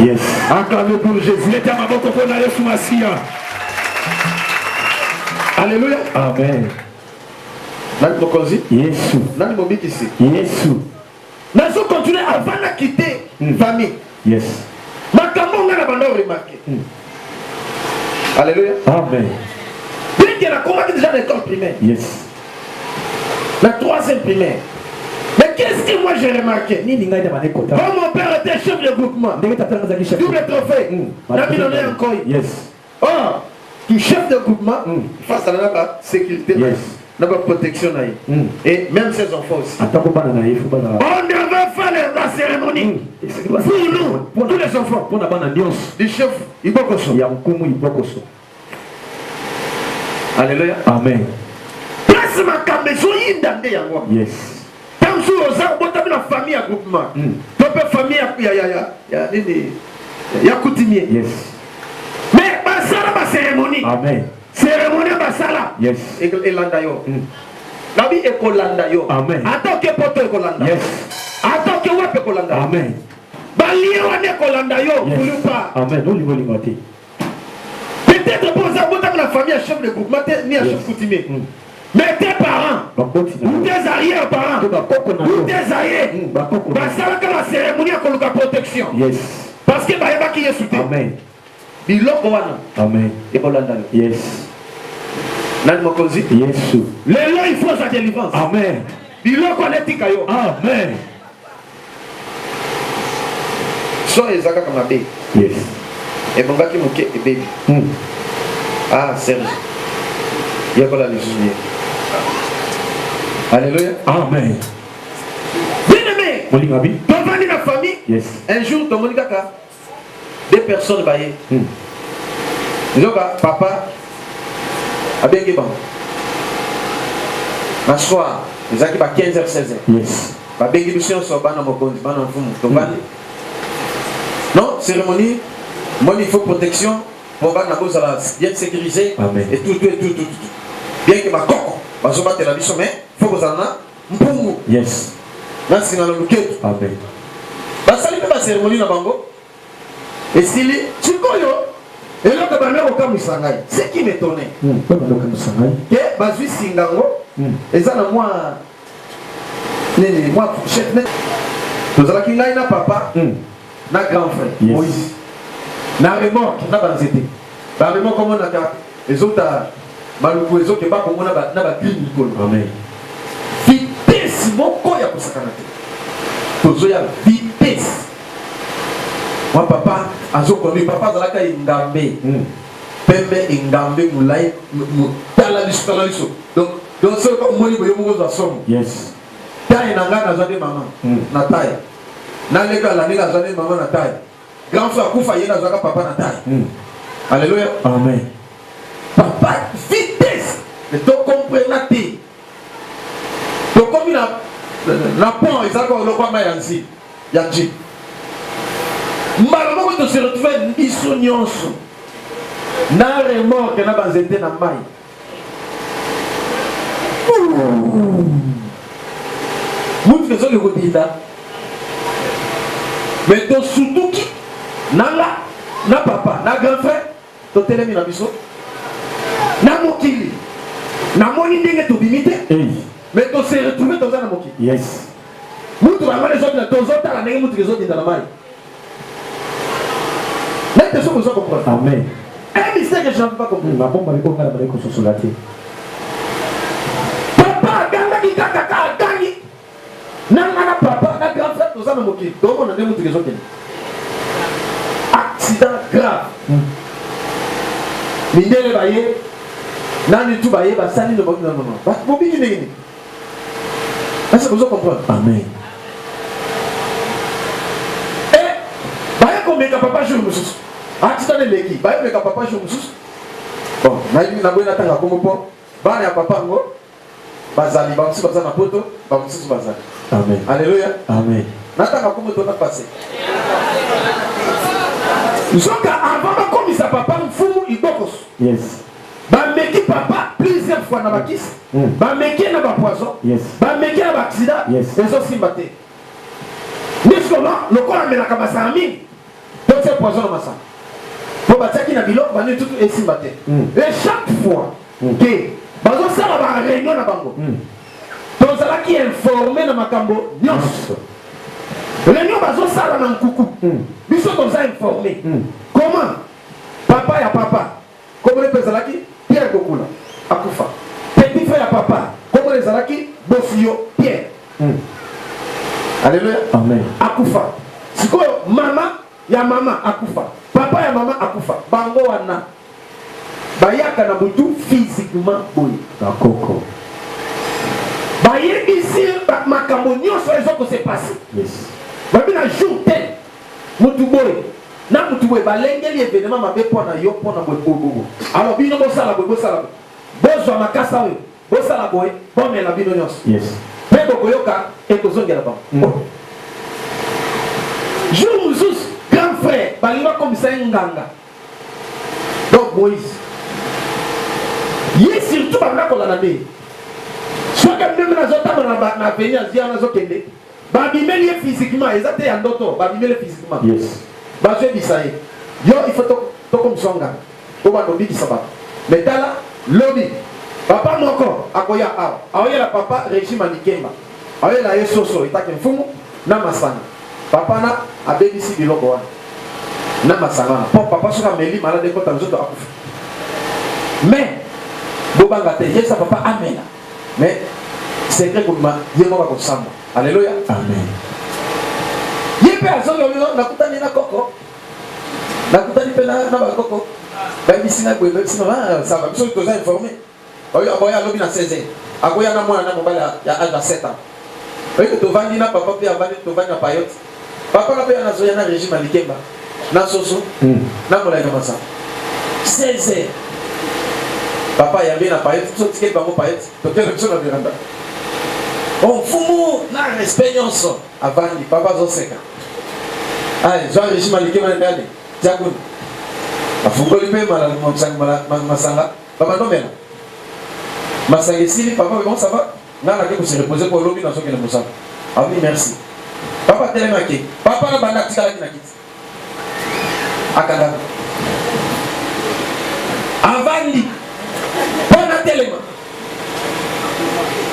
Yes. Acclamez pour Jésus. Mettez à ma boca pour la Yesu Massia. Alléluia. Amen. Nani mokonzi? Yesu. Nani mobikisi? Yesu. Nazo continuer avant na quitter mm. famille. Yes. Makambo nga na banda remarquer. Mm. Alléluia. Amen. Bien que nakomaki déjà na école primaire. Yes. La troisième primaire. Mais qu'est-ce que moi j'ai remarqué Nini ngai na bande kota. Quand mon père était chef de groupement. Ndenge tata ngazaki chef. Double trophée. Mm. Na bino na Yes. ah tu chef de groupement mm. face à la sécurité yes na ba protection na ye mm. et même ses enfants aussi ata ko bana na ye faut bana on ne veut pas les la cérémonie mm. pour nous pour tous les enfants pour na bana nyonso du chef ibokoso ya nkumu ibokoso alléluia amen place makambo ezoyinda nde yango yes Tango sur oza obotami na famille ya groupement. Hmm. To pe famille ya ya ya ya nini? Ya coutumier. Yes. Mais basala ba cérémonie. Amen. Cérémonie basala. Yes. Elanda yo. Hmm. Nabi ekolanda yo. Amen. Ata ke poto ekolanda. Yes. Ata ke wapi ekolanda. Amen. Balie wana ekolanda yo. Yes. Kulupa. Amen. Olingo lingo te. Peut-être pour ça, vous avez la famille à chef de groupement, ni à chef coutumier. Mm. Mais tes parents, ou tes arrière-parents, ou tes aïeux, mm, bah, basalaka la cérémonie ya koluka protection. Yes. Parce que bayebaki Yesu te. Amen. Biloko wana. Amen. Ekolanda yo. Yes. Nani mokonzi? Yesu. Lelo il faut sa délivrance. Amen. Biloko wana etika yo. Amen. son eza kaka mabe ebongaki moke ebebi hmm. ah serge yekola lisusu ye alleluya amen bien aimé tofandi na famille un jour tomoni kaka de personne baye hmm. nzoka papa abengi bango na soir ezalaki ba 15 heures 16 heures babengi biso nyonso bana mokonzi bana mfumu tobandi hmm. non cérémonie moni il faut protection mpo bana bozala bien sécurisé et tout tout et tout tout bien que bakoko bazobatela biso mais faut kozala na mpungu yes. na nsima na luketu. Amen. Basali mpe baseremoni na bango esili. Sikoyo eloko ebandi kokamwisa ngai, ce qui m'etonne hmm, ke bazwi singa yango hmm. eza na mwa nini mwa fourchette tozalaki ngai na papa hmm. na grand frère yes. moïse na remorke na banzete baremorke omonaka ezota maluku ezokeba kongo na bagrine likolo vitese moko ya kosakana te tozoya vitese mwa papa azokomi papa azalaka engambe hmm. pembe engambe molai tala biso tala biso donc donc soki omoni boye moko ozwa somo taye na ngai nazwa nde mama hmm. na taye na leka la nina zane mama na taille grand frère kufa yena zaka papa na taille mm. alléluia amen papa vitesse mais to comprendre te to komi na na pont eza ko lokwa ma yanzi ya ji mbala moko to se retrouver biso nyonso na remorque na banzete na mai mutu ezali kobinda me tosutuki nanga na papa na grand frère totelemi na biso na mokili namoni ndenge tobimi te me tose retrouve toza na mokili mutu bango ezobina tozotala ndenge mutu ezobinda na mai nayebi te soki oza comprendre amen un mystère que je n'avais pas compris mabomba miko ngai nabandaki kososola te papa agangaki kaka ka agangi na nga na papa na grand frère toza na mokili tokomona nde motuka ezokende accident grave hmm. mindele baye nani tu baye basali nobaki na mama bobiki ndenge nini Est-ce que vous comprenez? Amen. Eh, baye komeka papa jour mosusu atika leleki baye komeka papa jour mosusu bon nayebi na boye natanga kombo mpo bana ya papa yango bazali bamosusu baza na poto bamosusu bazali amen aleluya amen natanga kombo to na pase nzoka avant bakomisa papa mfumu ibokoso yes bameki papa plusieurs fois na bakisi mm. bameki ye na bapoison yes. bameki ye na baaccident yes. ezosimba te miskoma lokola amelaka masanga mingi totie poison na masanga mpo batiaki na biloko bani tutu esimba te mm. e chaque fois mm. ke bazosala bareunion na bango mm. tozalaki informe na makambo nyonso mm. reunion bazosala na nkuku mm. biso toza informe mm. comment papa ya papa kombo ne pe ezalaki Pierre Bokula akufa petit frère ya papa kombo ne ezalaki Bofuyo Pierre mm. Alléluia Amen akufa sikoyo mama ya mama akufa papa ya mama akufa bango wana bayaka na butu physiquement boye bakoko bayebisi makambo nyonso ezo kose pasi yes. babi na jour te Mutu boye na mutu boye balengeli evenema mabe mpo na yo mpo na boye bobobo alors bino bosala boye bosala boye bozwa makasa oyo bosala boye bomela bino nyonso yes. mpe bokoyoka ekozongela bango mm. Oh. jour mosusu grand frère balingi bakomisa ye nganga donc moïse ye surtout banda kolala nde soki meme nazotambola na aveni azia nazokende Ba bimeli ye physiquement, eza te ya ndoto, ba bimeli physiquement. Yes. Ba zwe bisa ye. Yo il faut to ko msonga. To ba dobi bisa ba. Mais tala lobi. Papa moko akoya awa. Aoye la papa régime à Nikemba. Aoye la ye soso etake mfumu na masanga. Papa na abebisi biloko wana. Na masanga wana. Po papa soka meli malade ko tanzoto akufa. Mais bobanga te yesa papa amela. mais secret kobima ye moko akosamba aleluya amen ye mpe azololelo nakutani na koko nakutani mpe na bakoko bayebisi ngai boye bayebisi ah, samba biso toza informe oyo aboye alobi na 16 akoya na mwana na mobali ya age ya 7 ans oyo tovandi na papa mpe avandi tovandi na payote Papa na pe na zoya na régime alikemba na soso hmm. na molaika masamba 16 heures papa ayambi na payete biso tikeli bango payete tokende biso na veranda omfumu na respect nyonso avandi papa azoseka aye zwa régime alikema na ndani tia kuna afungoli mpe masanga babandomela masanga esili papa bebon sava nga nake ko se reposer po lobi nazo kende mosala abi merci papa telema ake papa na banda atikalaki na kiti akangaka avandi po na telema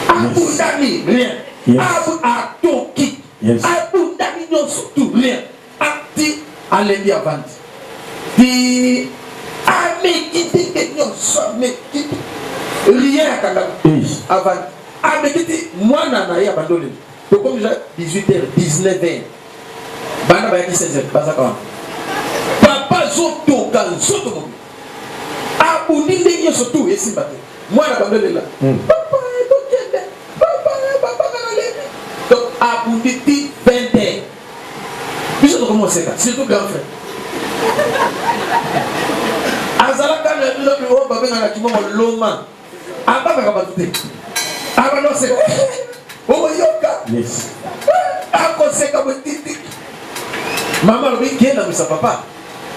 abundami rien atoki abundami nyonso tout rien Ati alembi avandi ti amekiti te nyonso amekiti rien akanda avandi amekiti mwana na ye abandi olembi tokomi ja 18 heures 19 heures bana bayaki 16 heures bazaka wana papa azotoka nzoto mobi abundi ndenge nyonso tu esimba te mwana bando elela hmm. papa tokende papa papa na nalembi donc abundi ti biso tokomi koseka surtout grand frère azalaka na bino biwo babengaka kibongo loma abangaka bato te abanda koseka okoyoka akoseka botiti mama alobi kenda misa papa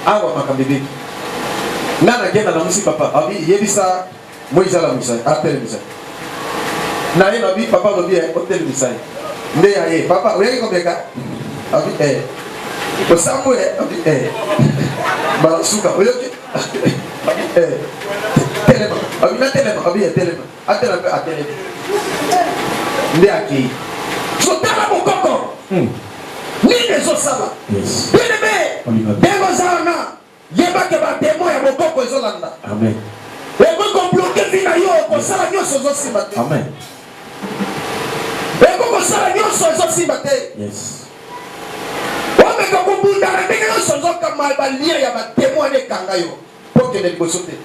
awa makambo ebeki nga nakenda na mosi papa abi yebisa Moise alamwisa ye, atelemisa ye. Na ye lobi, papa lobi, eh, otelemisa ye. Nde ya ye, papa, oyaki komeka? Abi, eh. Osambwe, eh? Abi, eh. Balasuka, oyoki? Abi, eh. Telema. Abi, na telema. Abi, eh, telema. Atela mpe atelema. Nde akei. Zotala mokoko. Hmm. Nini ezosala? Yes. Bien aimé. Ndenge oza wana. Yeba que ba demon ya bokoko ezo landa. Amen. Eko ko bloquer vie na yo, ko sala nionso ezo simba te. Amen. Eko ko sala nionso ezo simba te. Yes. Omeka kobunda na ndenge nyonso nzoka ba lien ya ba demon wana ekanga yo. Pokende liboso te.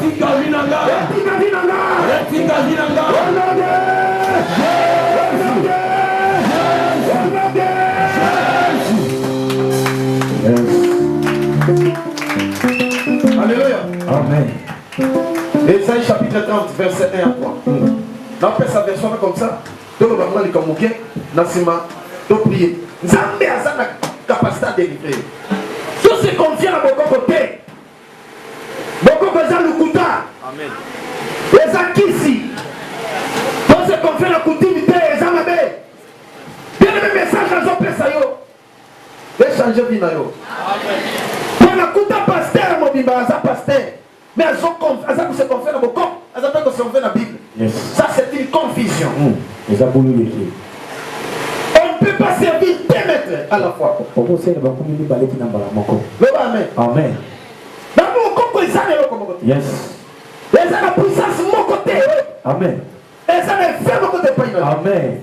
Tika vina nga. Tika vina nga. Tika vina nga. Olonde. Olonde. Olonde. Alléluia. Amen. Ésaïe chapitre 30 verset 1 à 3. Napesa version comme ça. Toloba mwa likambo moke na nsima to prie. Nzambe aza na capacité à délivrer. Tous se confient na bokoko te. bokoko eza lokuta eza kisi tose konfie na kutimi te eza mabe bieneme message azopesa yo echange vi na yo mpo nakuta paster mobimba aza paster mais aza kose konfie na bokoko aza mpe kose konfie na bible Yes. Ça c'est une confusion. Mm. Eza bulu leki. On ne peut pas servir deux maîtres à la fois. Poko sene ba kumi mibale tina mbala moko. Loba amen. Amen. Na mo koko eza na eloko moko. Yes. Eza na puissance moko te. Amen. Eza na effet moko te payina. Amen.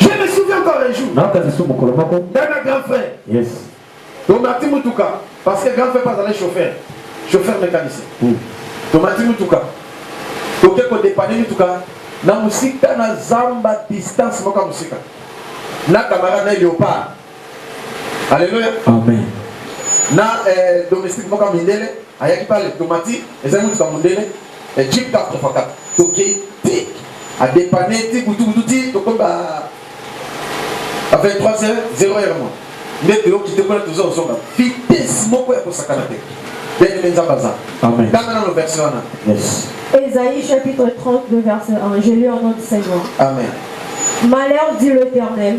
Je me souviens encore un jour. Naka biso mokolo moko. Dana grand frère. Yes. Tomati mutuka parce que grand frère pas allé chauffeur. Chauffeur mécanicien. Mm. Tomati mutuka. Toke ko dépanner mutuka na musika na zamba distance moko musika. Na camarade na Léopard. Alléluia. Amen. Na eh, domestique moko mindele ayaki pale tomati ezali motuka mondele eh, jeep 4x4 tokei tik adepane ti butubutu ti tokomi ba 23 heures 0 heure mwa nde toyoki te kuna toza kozonga vitesse moko ya kosakana te ndenge nzambe aza tanga nano verse wana Ésaïe chapitre 32 verset 1 je lis au nom du Seigneur Amen Malheur dit l'Éternel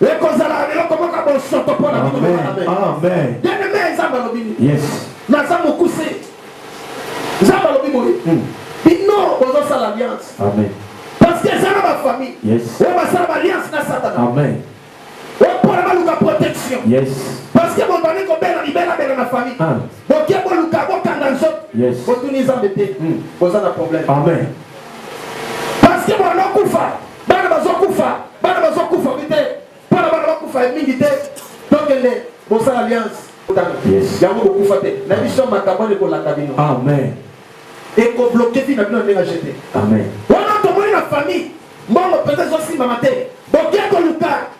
ekozala eloko moko ya bosoto mpo na bino bien-aime nzambe alobi nini naza mokuse nzambe alobi boye hmm. bino bozosala alliance parce que eza na bafamille oyo basala baalliance na satana oyo mpona baluka protection parce que bobandi kobela libelabela na famille ah. boke boluka bokanga nzoto botuni nzambe te hmm. boza na problème parce que bonokufa Bana bazokufa, bana bazokufa bi te. Mpona bana bakufa ya mingi te, tokende bosala alliance. Yes. Yango bokufa te. Na biso makambo wana ekolanda bino. Amen. Ekobloke vi na bino ndenge ajete. Amen. Wana tomoni na famille, mbongo mpenza ezosimbama te. Boke koluka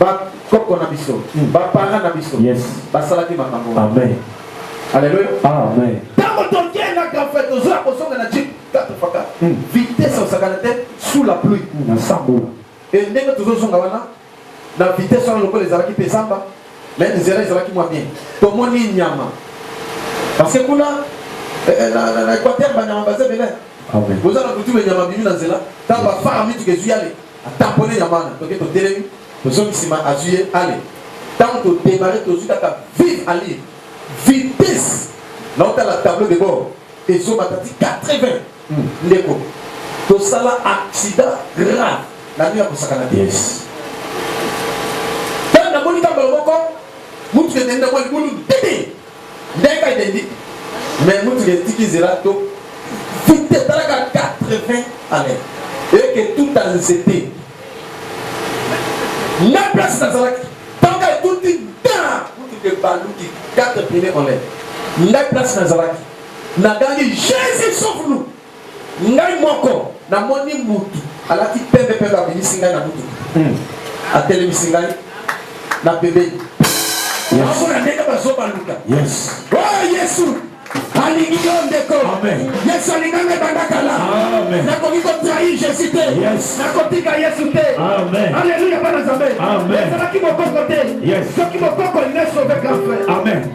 ba koko na biso hmm. ba parents na biso yes. basalaki makambo amen aleluya amen ntango tokendaka fe tozoya kozonga na jipe tatofaka hmm. vitesse osakana te sous la pluie hmm, na sambola e ndenge tozozonga wana na vitesse wana lokola ezalaki mpe zamba me nzela ezalaki mwa bien tomoni nyama parce que kuna eh, eh, na équateur banyama baza ebele boza na kutume nyama bimi na nzela ntango bafara mituka ezwi yale A tamponner ya mana toke totelemi tozongi sima azui ye ale tango to demarrer tozui kaka vive allure vitesse na otala tableau de bord ezomata ti 80 hmm. ndeko tosala accident grave na nini ya kosakana te ntango namoni kambala moko motuka ekende mwa libulu tete Ndenge ka identique. Mais mutu ke tiki zela to vite talaka 80 années. Et que tout en zete. Na place na zalaki. Tant ka tout dit da mutu ke baluki 4 pine en l'air. Na place na zalaki. Na gangi Jésus sauve nous. Ngai moko namoni mutu alati pembe pembe abimisi ngai na mutuka. Hmm. Atelemisi ngai na pembeni. Amona ndenge bazobaluka. Yes. Oh Yesu alingi yo ndeko yesu alinga ngai banda kala nakoki kotrahi jésus te nakotika yesu te aleluya bana nzambe ezalaki mokoko te soki mokoko nesove grand frère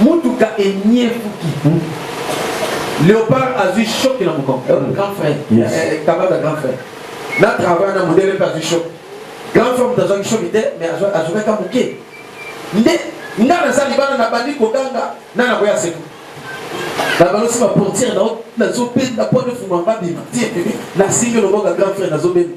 mutuka enyefuki hmm? leopard azwi choc na mokongo euh, hmm. grand frère yes. eh, kabaka grand frère na travail na modele mpe azwi choc grand frère moto azwaki choc te mais azwakaka moke nde nga naza libana nabandi koganga na nakoya seko nabalasi baportiere nazobenda mpo nefungwa babima tie nasimbi loboko ya grand frère nazobenda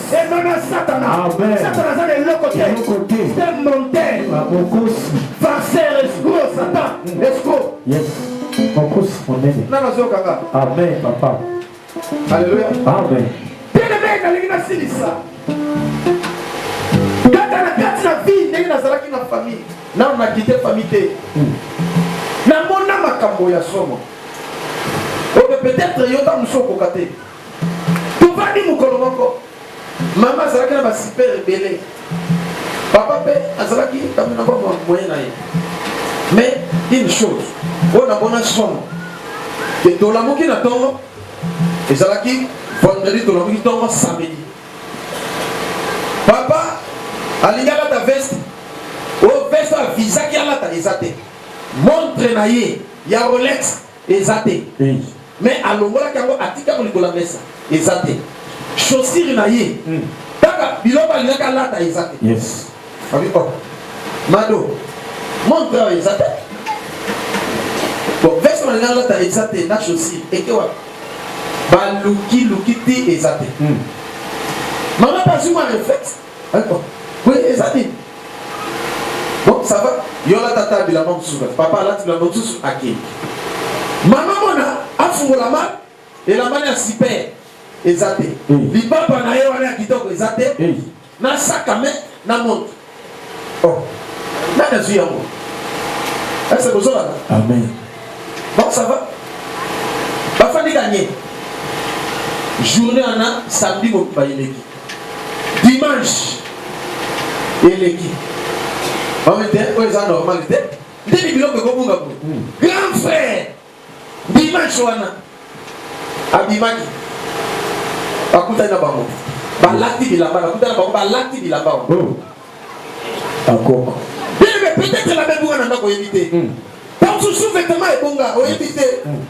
emema satana satana aza na eloko te te monter babokosi farceur escro satan mm. escro yes mokosi monene nana azokanga amen papa alleluia amen teleme nalingi nasilisa kaka na kati na vie ndenge nazalaki na famille nano nakite famille te mm. namona makambo ya somo oyo peut-être yo ntango mosusu okoka te Tofandi mokolo moko, mama azalaki na basiper ebele, papa mpe azalaki ntango na bango moye na ye. Mais une chose oyo namona somo etolamuki na ntongo ezalaki vendredi tolamuki ntongo samedi papa alingi alata veste oyo oh, veste avisaki alata eza te montre na ye ya rolex Eza te. Mais alongolaki yango atika yango likolo ya mesa. Eza te. Chaussure na ye. Kaka biloko alingaki alata eza te. Yes. Abi oh. Mado. Montre oyo eza te. Bon, veste na ngala ta eza te na chaussure. Eke wapi? Baluki luki te eza te. Mama bazuma reflexe. Attends, oui, eza nini? Bon, ça va. Yo la tata bilamba mosusu kati. Papa alati bilamba mosusu akei. Mama mona afungola ma elamba ya super eza te. Mm. Lipapa na ye wana ya kitoko eza te. Mm. Na saka me na montre. Oh. Nani azwi yango? Ese bozolaka? Amen. Bon, ça va. Bafandi kanye. Journée wana samedi mobimba eleki. dimanche eleki omete oyo eza normal te ndeni biloko ekobunga boye hmm. grand frère dimanche wana abimaki bakutani na bango balati bilamba nakutani na bango balati bilamba wana oh. Bakoko. Bebe peut-être la bebe wana ndako oyebi te. Hmm. Tango susu vêtement ebonga oyebi te. Hmm.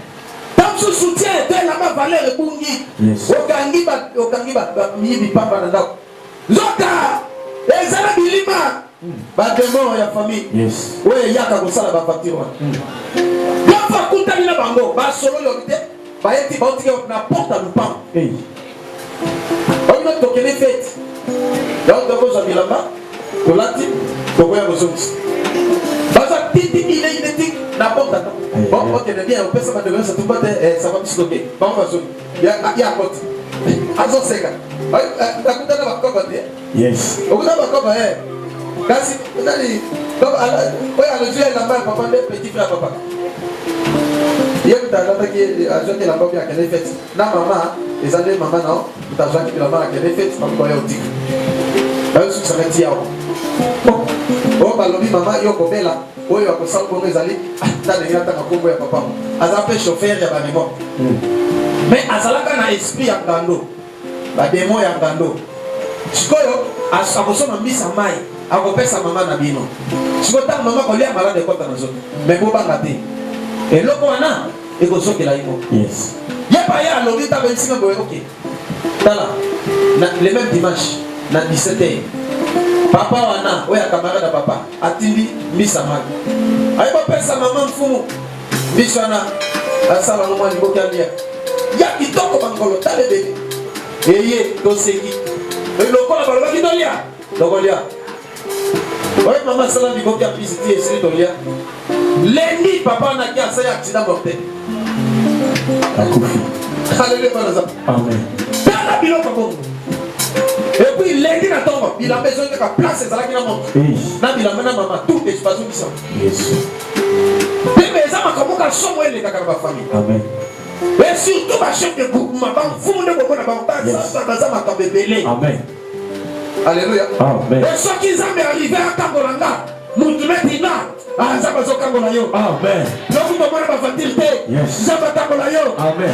Tango susu soutien etelama valeur ebungi. Okangi ba okangi ba miyibi pamba na ndako. Nzoka ezala bilima hmm. ba demon ya famille. Yes. Oyo eyaka kosala ba facture wana. Yo fa kutani na bango ba solo yo te. bayeti baotike na porte ya lupango oyino tokende feti yango tokozwa bilamba tolati tokoya kozongisa baza titi ile ineti na porte ata okende bien opesa bato nyonso tuba te saba biso toke bango bazongi ya akoti azoseka akutana bakoko te Yes. Okuta ba koba eh. Kasi nani donc ala oyo alozi ya elamba ya papa nde petit frère papa. Ye kuta alataki azwaki elamba oyo akende fete na mama eza nde mama na kuta azwaki elamba akende fete bakoba ya otika. Bayosukisaka ti yawa. Oyo balobi mama yo kobela oyo akosala bongo ezali ata ndenge atanga nkombo ya papa aza mpe chauffeur ya barimo mais azalaka na esprit ya ngando Ba demon ya ngando. Sikoyo akosomba mbisa mai akopesa mama na bino. Sikoyo ntango mama kolia malade ekota na zoto. Mais bobanga te. Eloko wana ekozokela ye moko. Yes. Ye pa ye alobi ntango ye nsima boye oke. Tala, na le même dimanche na 17h. Papa wana oyo ya camarade ya papa atindi mbisa mai. Aye bopesa mama mfumu. Biso wana basala ngo mwa liboki alia ya kitoko bangolo talebele eye toseki lokola balobaki tolia tokolia oye mama asala liboki ya pisiti esili tolia lendi papa naki asali accident mortel akufi haleluya bana za amen tala biloko bongo epuis lendi na ntongo bilamba ezongi kaka place ezalaki na moto na bilamba na mama tout ezobazongisa Bebe eza makambo ka somo elekaka na bafamille. Amen. Et surtout ba chef de groupement ba mfumu nde komona bango baza baza makambo ebele. Amen. Alléluia. Amen. Et soki Nzambe arrive akangola nga mutu neti nga aza bazokangola yo. Amen. Lokuta mwana bavandile te. Nzambe akangola yo. Amen.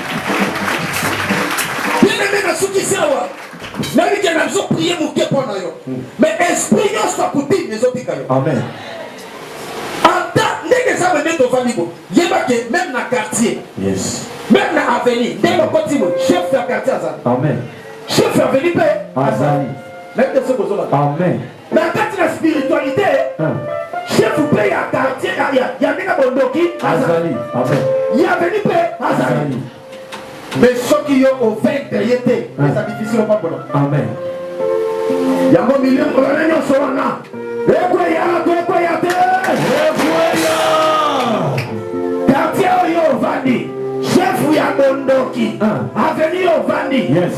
Bien-aimé, nasukisi awa. Nayebi ke nazo prier moke mpo na yo. Mais esprit nyonso ya kutime ezobika yo. Amen. Ata ndenge eza meme tovandi bo. Yeba ke meme na quartier. Yes. Meme na avenue ndenge okoti bo chef ya quartier azali. Amen. Chef ya avenue mpe azali. Nayebi te soki ozolaka. Amen. na kati na spiritualité chef mpe ya quartier ya ndenge bondoki azali ya veni mpe azali mais soki yo ovaincre ye te ah. eza difficile opambola amen yango milimo wana nyonso wana ekweya to ekweya te ekweya quartier oyo ovandi chef ya bondoki ah. aveni ovandi yes.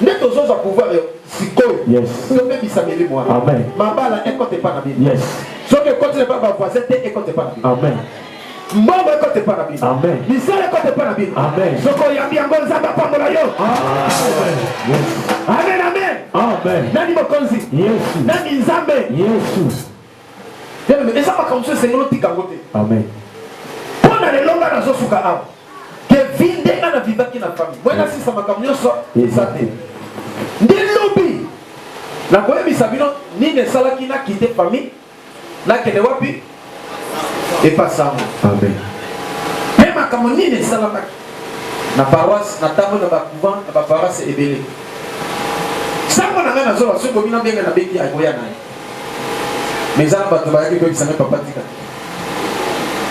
nde tozozwa pouvoir sikoyo tobebisa milimo wana mabala ekota epa na bino soki ekoti na epa bavoisin te ekota epa na bino mbongo ekota epa na bino misala ekota epa na bino soki oyambi yango nzambe apambola yo amen amen nani mokonzi nani nzambe yesu Y'a mais eza makambo mosusu esengeli otika yango te. Amen. Mpo na lelo ngai nazosuka awa ke vi nde ngai na vivaki na famille moi nasisa makambo nyonso eza te nde lobi nakoyebisa bino nini esalaki nakite famille nakende wapi epasango amen mpe makambo nini esalamaki na paroisse na ntango na bacouvent na baparoisse ebele sango na ngai nazola soki bomi na ndenge nabengi akoya na ye Mais eza na bato bayaki koyebisa ngai papa tika.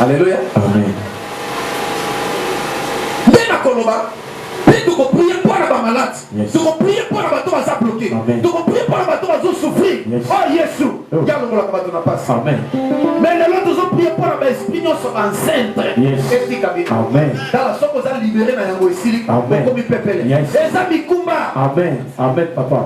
Alléluia. Amen. Nde nakoloba mpe tokoprie mpo na bamalade tokoprie mpo na bato baza bloke tokoprie mpo na bato bazo souffrir o oh, yesu oh. yalongolaka bato na pasi mais lelo tozoprie mpo na baesprit nyonso enceinte etika bino tala soki oza libere na yango esili okomi pepele eza mikumba amen amen papa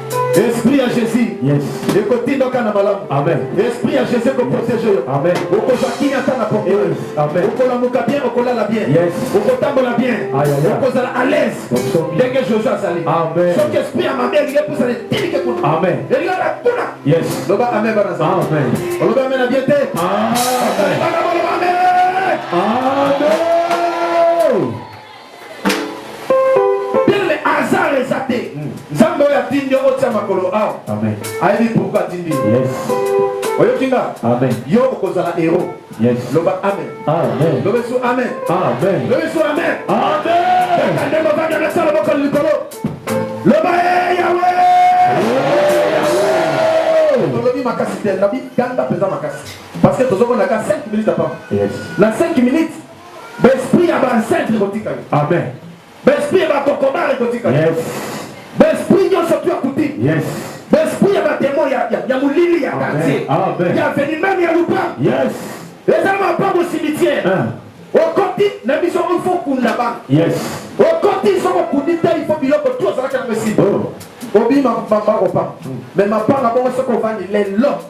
Esprit ya Jésus. Yes. Ekotinda ka na malamu. Amen. Esprit ya Jésus ko protéger yo. Amen. Okozwa kimia ata na pompe. Yes. Amen. Okolamuka bien, okolala bien. Yes. Okotambola bien. Okozala à l'aise. Ndenge Jésus azali. Amen. Soki esprit ya mabe elingi epusa na etilike kuna. Amen. Elingi na kuna. Yes. Loba amen bana za. Amen. Oloba amen na bien te. Amen. Amen. Amen. tele hasard eza te hmm. nzambe oyo atindi yo otia makolo awa ayebi pourkui atindi yo oyoki nga yo okozala hero loba amen loba esu amen loba esu amen nde movanda nasala mokolo likolo loba e yawe olobi makasi te nabi ganga mpenza makasi parce que tozomona ka 5 minutes apama na 5 minutes Ba esprit ya ba ancêtre ekotika yo. Amen. Ba esprit ya ba kokobare ekotika yo. Yes. Ba esprit nyonso tu akuti. Yes. Ba esprit ya ba demon ya ya, ya molili ya quartier. Amen. Ya veni même ya lupa. Yes. Eza mapango cimetière. Hein. Okoti na biso il faut kunda ba. Yes. Okoti soko kundi te il faut biloko tu ozalaka na messi. Oh. Obi ma ma ma opa. Mm. Mais ma panga bongo soko vandi lelo.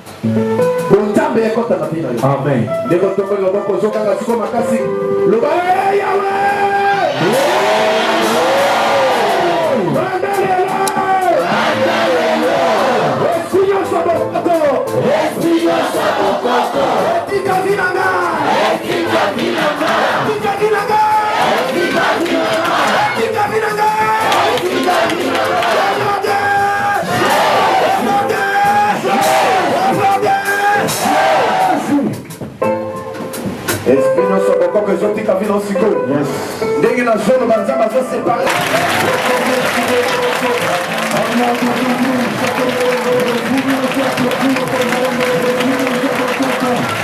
bonzambe ekota na bino amen ndeko tokoli loboko ozokanga siko makasi loba eh, yawe esprit nyonso bokoko ezotika bino sikoyo ndenge na zolo banzambe azosepare Thank you.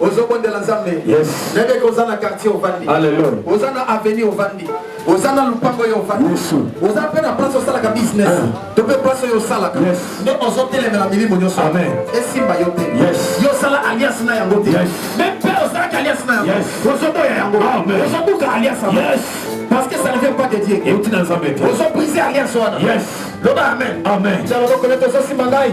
ozobondela nzambe nayebi eke oza na quartier ovandi oza na avenue ovandi oza na lupango yo ovandi oza mpe na place osalaka business ah. to mpe mpasi oyo osalaka nde ozotelemela milimo nyonso esimba yo te yo osala alias na yango te me mpe osalaki alias na yango ozoboya yango ozobuka alias yango parce que ça ne vient pas de Dieu. Et tu n'as jamais été. Vous brisé alliance wana. Yes. Loba amen. Amen. Dialogue koleta ozosimba ngai.